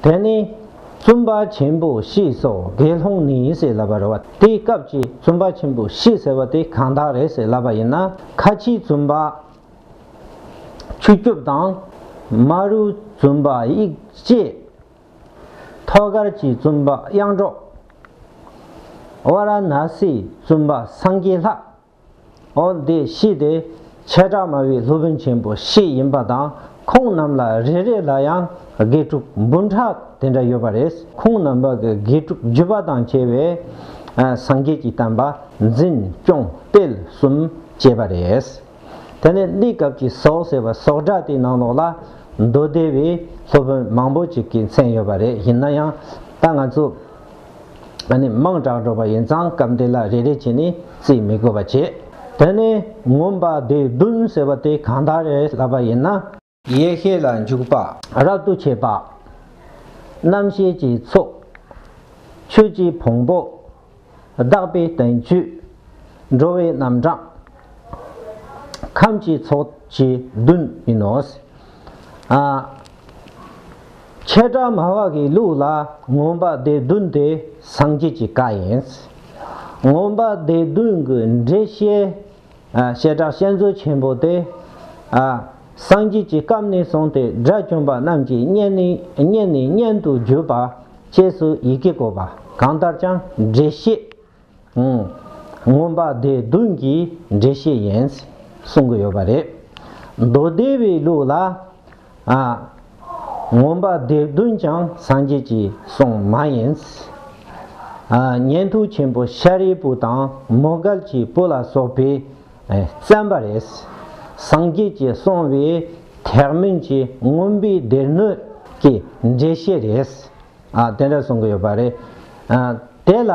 དེ་ནས་བཙུན་པ་ཆེན་པོ་ཤི་སོགས་དགེ་སློང་ནི་ཡིན་ཟེར་ལབ་པར་རོ། དེའི་སྐབས་ཀྱི་བཙུན་པ་ཆེན་པོ་ཤི་ཟེར་བ་དེ་གང་དག་རེད་ཟེར་ལབ་པ་ཡིན་ན་ཁ་ཆེའི་བཙུན་པ་ཆུ་སྐྱོབ་དང། དམའ་རུའི་བཙུན་པ་དབྱིག་བཅས། ཐོད་དཀར་གྱི་བཙུན་པ་དབྱངས་སྒྲོག། བ་ར་ན་སིའི་བཙུན་པ་སངས་རྒྱས་ལྷ། ཨོ་འདི་ཤི་དེ་བྱེ་བྲག་སྨྲ་བའི་སློབ་དཔོན་ཆེན་པོ་ཤི་ཡིན་པ་དང་ཁོང་རྣམས་ལ་རེ་རེ་ལ་ཡང་དགེ་ཕྲུག་འབུམ་ཕྲག་དེ་འདྲ་ཡོད་པ་རེད་ཁོང་རྣམས་པ་གི་དགེ་ཕྲུག་བརྒྱུད་པ་དང་བཅས་པས་སངས་རྒྱས་ཀྱི་བསྟན་པ་འཛིན་སྐྱོང་སྤེལ་གསུམ་བྱས་པ་རེད། དེ་ནས་གླིའི་སྐབས་ཀྱི་ཟོག་ཟེར་བ་ཟོག་འདྲ་དེའི་ནང་ལོགས་ལ་མདོ་སྡེ་བའི་སློབ་དཔོན་མང་པོ་ཅིག་གི་མཚན་ཡོད་པ་རེད་ཡིན་ན་ཡང་ད་ང་ཚོ་ནི་དམངས་དྲག་འགྲོ་པ་ཡིན་ཙང་སྐབས་འདི་ལ་རེ་རེ་བྱས་ནས་རྩིས་མི་དགོས་པ་བྱེད། དེ་ནས་ངོམས་པ་བདེ་བདུན་ཟེར་བ་དེ་གང་དག་རེད་ལབ་པ་ཡིན་ན། ཡེ་ཤེས་ལ་འཇུག་པ། རབ་ཏུ་བྱེད་པ། རྣམ་ཤེས་ཀྱི་ཚོགས། ཆོས་ཀྱི་བོང་བུ། གདགས་པའི་བསྟན་བཅོས། འགྲོ་བའི་རྣམ་གྲངས། ཁམས་ཀྱི་ཚོགས་ཀྱི་བདུན་ཡིན་ནོ། ཆད་པྲ་མ་བ་གའི་ལུགས་ལ་ངོམས་པ་སྡེ་བདུན་དེ་སངས་རྒྱས་ཀྱི་བཀའ་ཡིན། ངོམས་པ་སྡེ་བདུན་གྱི་འགྲེལ་བཤད་བཤད་གྲྭ་བཤད་མཛོད་ཆེན་པོ་དེ། སངས་རྒྱས་ཀྱི་བཀའ་ནས་བཟུང་སྟེ་དགྲ་བཅོམ་པ་རྣམས་ཀྱི་སྙན་ནས་སྙན་དུ་བརྒྱུད་པ་བཅས་སུ་ཡི་གེ་བཀོད་པ་གང་ལྟར་ཀྱང་འགྲེལ་བཤད། མངོན་པ་སྡེ་བདུན་གྱི་འགྲེལ་བཤད་ཡིན། གསུང་གི་ཡོད་པ་རེད། མདོ་སྡེ་བའི་ལུགས་ལ། མངོན་པ་སྡེ་བདུན་ཀྱང་སངས་རྒྱས་ཀྱི་གསུང་མ་ཡིན། ཉན་ཐོས་ཆེན་པོ་ཤཱ་རིའི་བུ་དང་མོ་གལ་གྱི་བུ་ལ་སོགས་པས་བཙན་པ་རེད། སངས་རྒྱས་ཀྱི་གསུང་བས་ཐེག་དམན་གྱི་མངོན་པའི་སྡེ་སྣོད་ཀྱི་འགྲེལ་བཤད་རེད། དེ་འདྲ་གསུང་གི་ཡོད་པ་རེད། དེ་ལ་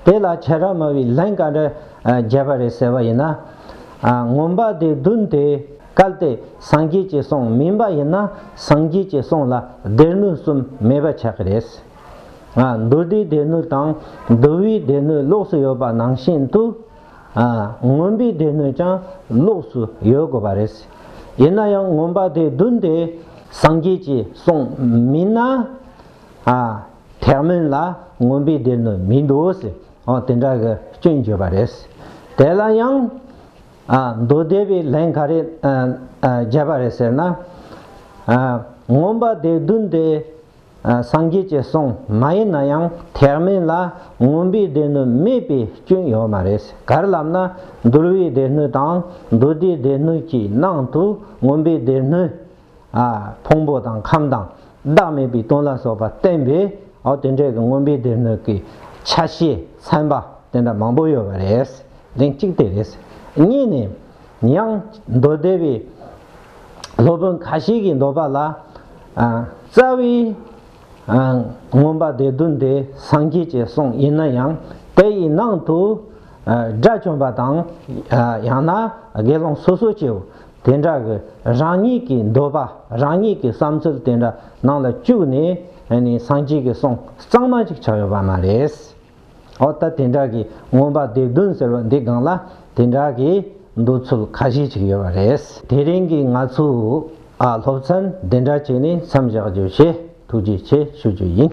དེ་ལ་བྱེ་བྲག་སྨྲ་བའི་ལན་ག་འདྲ་བརྒྱད་པ་རེ་ཟེར་བ་ཡིན་ན། ངོམས་པ་དེ་བདུན་དེ་གལ་ཏེ་སངས་རྒྱས་ཀྱི་གསུང་མིན་པ་ཡིན་ན་སངས་རྒྱས་ཀྱི་གསུང་ལ་སྡེ་སྣོད་གསུམ་མེད་པ་ཆགས་ཀྱི་རེད། མདོ་སྡེའི་སྡེ་སྣོད་དང་མདོ་དབུས་སྡེ་སྣོད་ལོགས་སུ་ཡོད་པ་ནང་བཞིན་དུ། ངོམས་པའི་སྡེ་སྣོད་ཀྱང་ལོགས་སུ་ཡོད་དགོས་པ་རེད། ཡིན་ན་ཡང་ངོམས་པ་དེ་བདུན་དེ་སངས་རྒྱས་ཀྱི་གསུང་མིན་ན། ཐེག་དམན་ལ་ངོམ་པའི་སྡེ་ནི་མི་འདུག་ཟེར་འོང་དེ་འདྲ་གི་སྐྱོན་བརྗོད་པ་རེད། དེ་ལ་ཡང། མདོ་སྡེ་པས་ལན་ག་རེ་བརྒྱབ་པ་རེད་ཟེར་ན། ངོམ་པ་སྡེ་བདུན་དེ་སངས་རྒྱས་ཀྱི་གསུང་མ་ཡིན་ན་ཡང་ཐེག་དམན་ལ་ངོམ་པའི་སྡེ་སྣོད་མེད་པའི་སྐྱོན་ཡོད་མ་རེད། གར་ལབ་ན་འདུལ་བའི་སྡེ་སྣོད་དང་མདོ་སྡེའི་སྡེ་སྣོད་ཀྱི་ནང་དུ་ངོམ་པའི་སྡེ་སྣོད། ཕུང་པོ་དང་ཁམས་དང་བདག་མེད་པའི་དོན་ལ་སོགས་པ་བསྟན་པས་དེ་འདྲའི་དངོས་པོའི་སྡེ་སྣོད་ཀྱི་ཆ་ཤས་ཚན་པ་དེ་འདྲ་མང་པོ་ཡོད་པ་རེད། གདེང་གཅིག་དེ་རེད། གཉིས་ནི། ཡང་མདོ་སྡེ་པའི་སློབ་དཔོན་ཁ་ཤས་ཀྱིས་མདོ་པ་ལ། རྩ་བའི་མངོན་པ་སྡེ་བདུན་དེ་སངས་རྒྱས་ཀྱི་གསུང་ཡིན་ན་ཡང་དེ་ཡི་ནང་དུ། སྒྲ་བྱོན་པ་དང་ཡང་ན་དགེ་སློང་སོ་སོ་སྐྱེ་བོ་དེ་འདྲ་གི་རང་ཉིད་ཀྱི་འདོད་པ་རང་ཉིད་ཀྱི་བསམ་ཚུལ་དེ་འདྲ་ནང་ལ་བཅུག་ནས་སངས་རྒྱས་ཀྱི་གསུང་གཙང་མ་ཅིག་ཆགས་ཡོད་པ་མ་རེད། འོ་ད་དེ་འདྲ་གི་ངོམ་པ་སྡེབ་བདུན་ཟེར་བ་འདི་སྒང་ལ་དེ་འདྲ་གི་འདོད་ཚུལ་ཁ་ཤས་ཅིག་ཡོད་པ་རེད། དེ་རིང་གི་ང་ཚོའི་སློབ་ཚན་འདི་འདྲ་བྱས་ནས་མཚམས་བཞག་རྒྱུ་བྱས་ཐུགས་རྗེ་ཆེ་ཞུ་རྒྱུ་ཡིན།